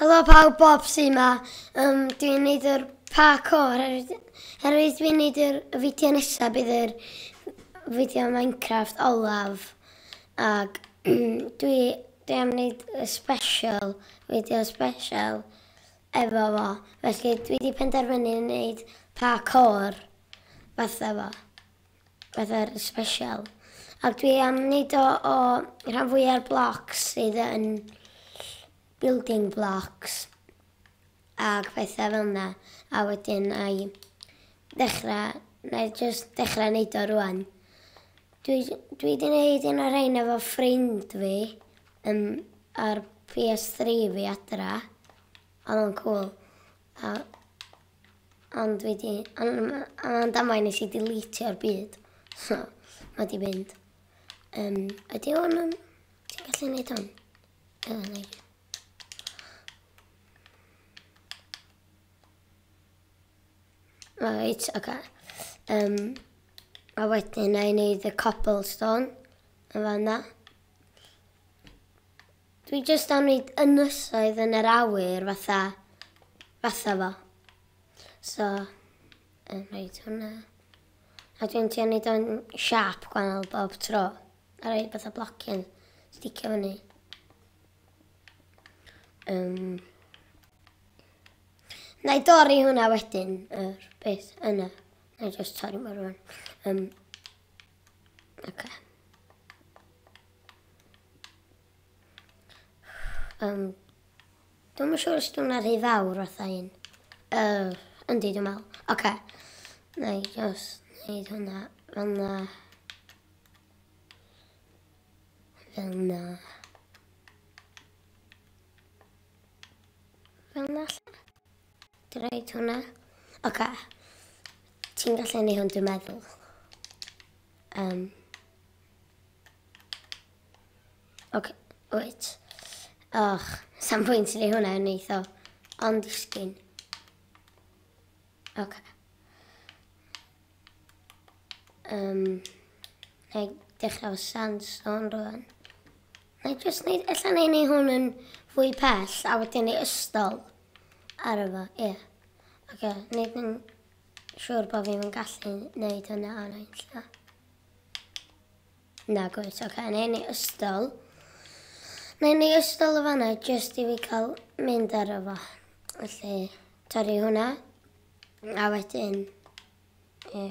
Helo pawb, Bob sy yma. Um, dwi'n neud yr parkour, herwydd dwi'n neud yr fideo nesaf bydd yr fideo Minecraft olaf. Ac dwi, dwi am neud y special, fideo special efo fo. Felly dwi wedi penderfynu neud parkour fatha fo. Pethau special. Ac dwi am wneud o o rhan fwya'r blocs sydd yn building blocks ac pethau fel yna. A wedyn na i ddechrau, na i just dechrau wneud o rwan. Dwi, dwi di wneud un o'r rhain efo ffrind fi um, ar PS3 fi adra. Oedd o'n cool. A Ond wedi, am damau nes i deletio'r byd. So, mae di mynd. Um, ydy o'n... Um, ti'n gallu neud hwn? Ydw, neud. Right, oce. Okay. Um, a wedyn na i wneud y cobblestone yn fanna. Dwi jyst am neud ynysoedd yn yr awyr fatha fatha fo. So yn rhaid hwnna. A dwi'n trio neud o'n siâp gwahanol bob tro. A rhaid fatha blocyn sticio fyny. Um, na i dorri hwnna wedyn, yr beth yna. Na i just torri mor rwan. Um, Okay. Um, dwi'n yn siŵr os dwi'n rhy fawr oedd ein. Uh, yndi, dwi'n meddwl. Oce. Okay. Na i just neud hwnna fel na. Fel na. Fel na. Dwi roid hwnna. Oce. Ti'n gallu neu hwn dwi'n meddwl. Um. Oce, wyt. Och, sam pwynt i hwnna yn eitho. Ond disgyn. Oce. Um, na i dechrau o sandstone rwan. Neu jyst neud... Ella newn ni hwn yn fwy pell a wedyn ei ystol ar y fo, ie. Ocê, neud yn siŵr bod fi'm yn gallu neud hwnna ar ein lle. Na, gwyd, ocê, newn ni ystol. Newn ni ystol o fanna jyst i fi cael mynd ar y fo. Felly, torri hwnna. A wedyn, ie.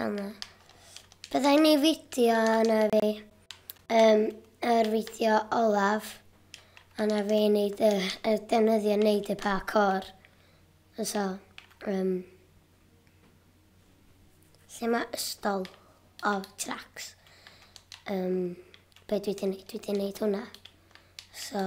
Yma. Byddai'n ei fideo yna fi, um, yr fideo olaf, yna fi wneud y, y defnyddio wneud y parkour. So, um, lle mae ystol o tracks. Um, be dwi wedi gwneud? Dwi wedi gwneud hwnna. So,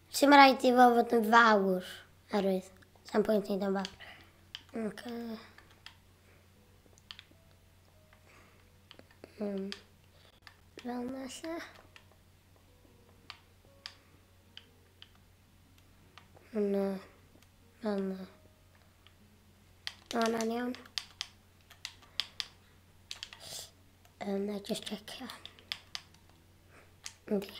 Ti'm rhaid i fo fod yn fawr, oherwydd sa'm pwynt neud o'n fawr. Ac, um, fel na lle. Yna, fel na. Yna'n iawn. Yna, just checio. Ynddi.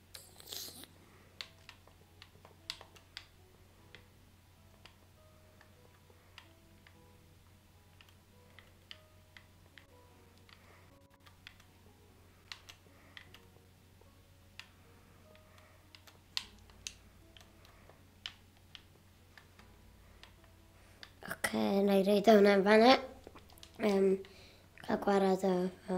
Oce, na i reid o hwnna'n fanna. Um, cael gwared o... o.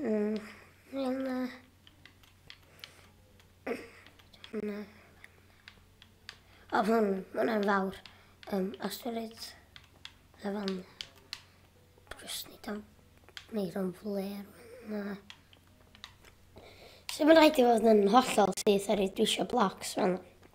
Mm, fel na. Hwna. O, hwn, hwnna'n fawr. Um, asteroid. A fan. Just ni dan. Neu dan fler. Na. So mae'n rhaid i fod yn hollol syth ar ei dwisio blocs fan.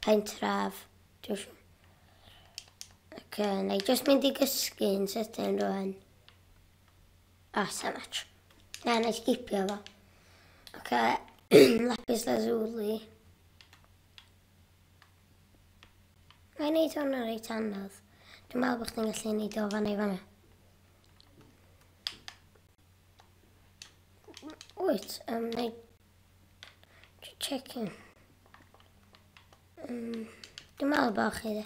Pentref, dwi'n siŵr. Ac uh, na i just mynd i gysgu yn sydyn rwan. O, oh, so much. Na, na i sgipio fo. Ac uh, lapis lazuli. Mae'n i neud hwnna reit anodd. Dwi'n meddwl bod chdi'n gallu neud o fan ei fanna. Wyt, um, na i Just checking. Um, dim meddwl bod chi dde.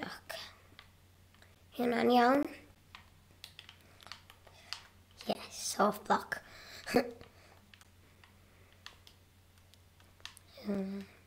Ok. Hynna'n iawn. Yes, soft block. um,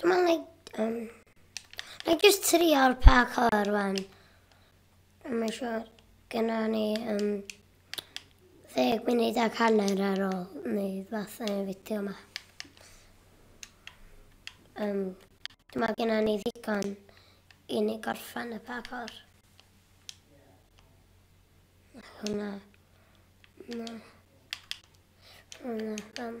Dwi'n meddwl na i... Um, na i just trio'r pa colour rwan. Mae'n siwr. Gynna ni um, ddeg munud ac hanner ar ôl neu fath yn y fideo yma. Um, dwi'n meddwl gynna ni ddigon i ni gorffan y pa colour. Hwna. Na. Hwna. Hwna.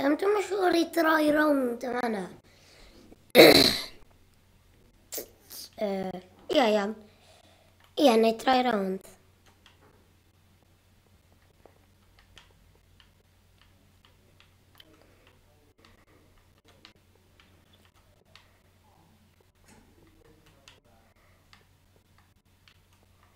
Yym, dwi'm yn siŵr i droi rownd yn fanna. Yy, ia, iawn. Ia, neu droi rownd.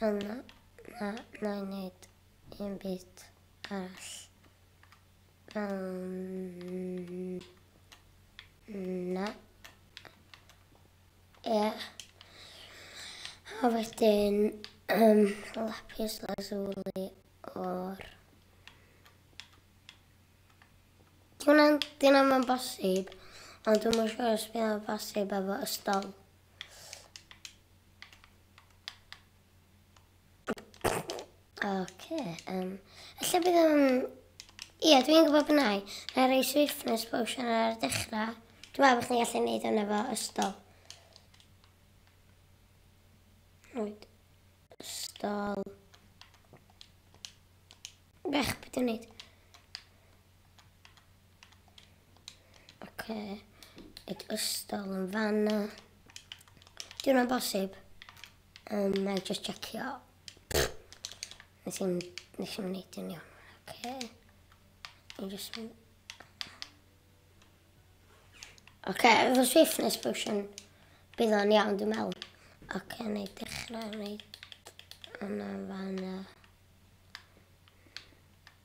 Yna, na, na i wneud un byd arall. Um, na. Ie. Yeah. A wedyn, um, lapis lazuli o'r... Dwi'n dyn am yn bosib, ond dwi'n mwyn siŵr os bydd o'n bosib efo y stol. Oce, um, lle bydd yn... Ie, dwi'n gwybod bod nai. Na rei swiftness potion ar dechrau. Dwi'n meddwl bod chi'n gallu gwneud hwnna fo ystol. Rwy'n ystol. Bech, beth dwi'n gwneud? Ok. It ystol yn fanna. Di hwnna'n bosib? Um, na i just checio. Nes i'n... Nes i'n neud yn iawn. Ok. I'n just mynd... Ok, efo swiftness potion. Bydd o'n iawn, dwi'n meddwl. Ok, na i dechrau neud... Yna fanna.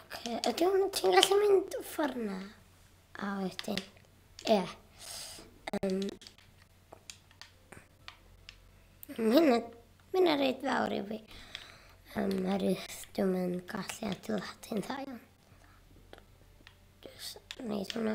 Ok, ydw, ti'n gallu mynd ffordd na? A wedyn, ie. Yeah. Um, Hynna, hynna reid fawr i fi. Um, ar eich dwi'n yn gallu adeiladu'n dda iawn. Just wneud hwnna.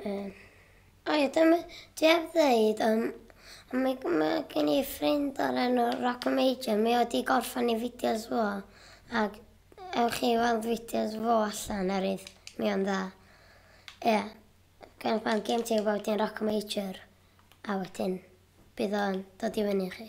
Um, o ie, dwi heb ddeud, um, mae, mae gen i ffrind o'r enw Rock Major, mi oedd i gorffan i fideos fo, ac ewch chi weld fideos fo allan ar eith, mi o'n dda. Ie, yeah. gan pan gen ti gwybod i'n Rock Major, a wedyn bydd o'n dod i fyny chi.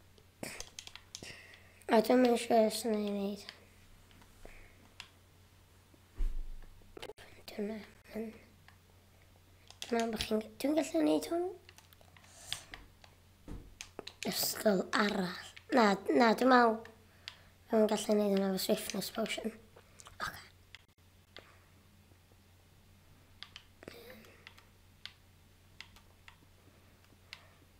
A dyma yn siŵr os yna ei wneud. Dyna. Dyna bod chi'n... Dwi'n gallu gwneud hwn? Ysgol arall. Na, na, dwi'n meddwl... Dwi'n gallu gwneud hwnna fo swiftness potion. Okay.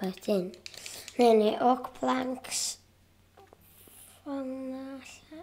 Wedyn, neu ni oak planks. Fanna lle.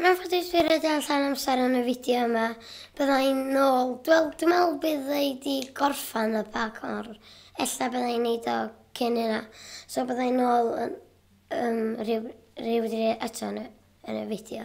Mae'n ffodus fi roed allan amser yn y fideo yma. Byddai'n nôl. Wel, dwi'n meddwl bydd ei di gorffan y bag o'r... Ella byddai'n neud o cyn yna. So byddai'n nôl yn, um, rhyw, rhyw dri eto yn y, yn y fideo.